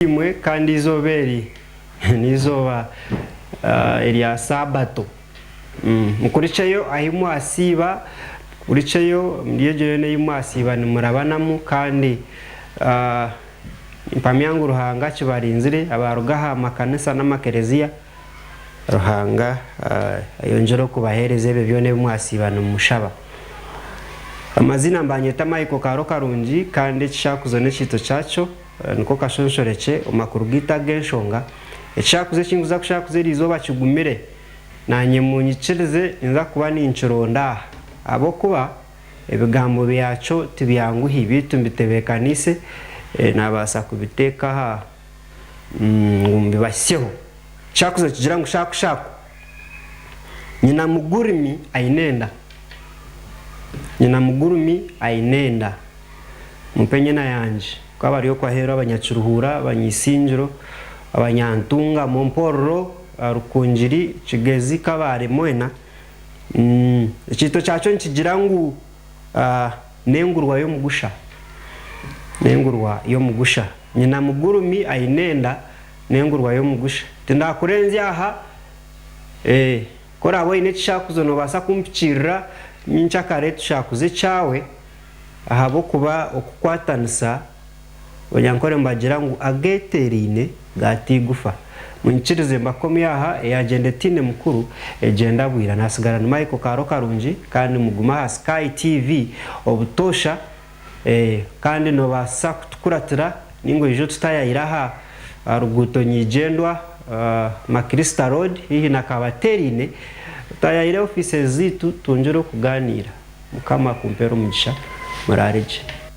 Eby'eby'eimwe kandi eizooba eri n'eizooba erya Saabato. Mukurikyeyo ahi mwasiiba, mukurikyeyo omuri egyo yoona ei mwasiiba nimurabanamu, kandi nimpamya ngu Ruhanga akibarinzire, abaaruga aha makanisa n'amakereziya, Ruhanga ayongyere kubaheereza ebyo byona ebi mwasiiba nimushaba. Amaziina, Mbanyeeta Michael Kaaro Karungi, kandi ekishaakuzo n'ekiito kyakyo. Niko kashonshorekye omu makuru gaitu ag'enshonga. Ekishakuzo eki nkuza kushakuza eri izooba kigumire, naanye munyikirize ninza kuba ninkironda aha, ahabw'okuba ebigambo byakyo tibyanguhi beitu mbitebeekaniise naabaasa kubiteeka aha ngu mbibahisyeho. Ekishakuzo nikigira ngu Shaku Shaku, nyina mugurumi aine enda. Nyina mugurumi aine enda. Mumpe enyena yangye. Ku abari okwo aheeru abanyakiruhuura, abanyaisingiro, abanyantungamo, mpororo, arukungiri, kigezi, kabaare, mwena. Umm. Ekiito kyakyo nikigira ngu, Ah, n'engurwa y'omugusha. N'engurwa y'omugusha. Nyina mugurumi, aine enda, n'engurwa y'omugusha. Tindaakurenzya aha. Eh, ku oraabe oine ekishaakuzo noobaasa kumpikiirira nyinkya kare tushaakuze ekyawe. ahabw'okuba okukwatanisa Onyankore nibagira ngu ageeteeraine gaaita eigufa. Munyikirize mbakomye aha, eyaagyenda etaine mukuru egyenda bwira. Naatsigara ni Michael Kaaro Karungi kandi mugume aha Sky TV obutoosha kandi noobaasa kutukuratira. Ninga oije otutayayire aha ruguuto nyigyendwa, Maclister Road, haihi na Kabatereine, otayayire ofiice zaitu twongyere okugaaniira. Mukama akumpeere omugisha. Muraare gye.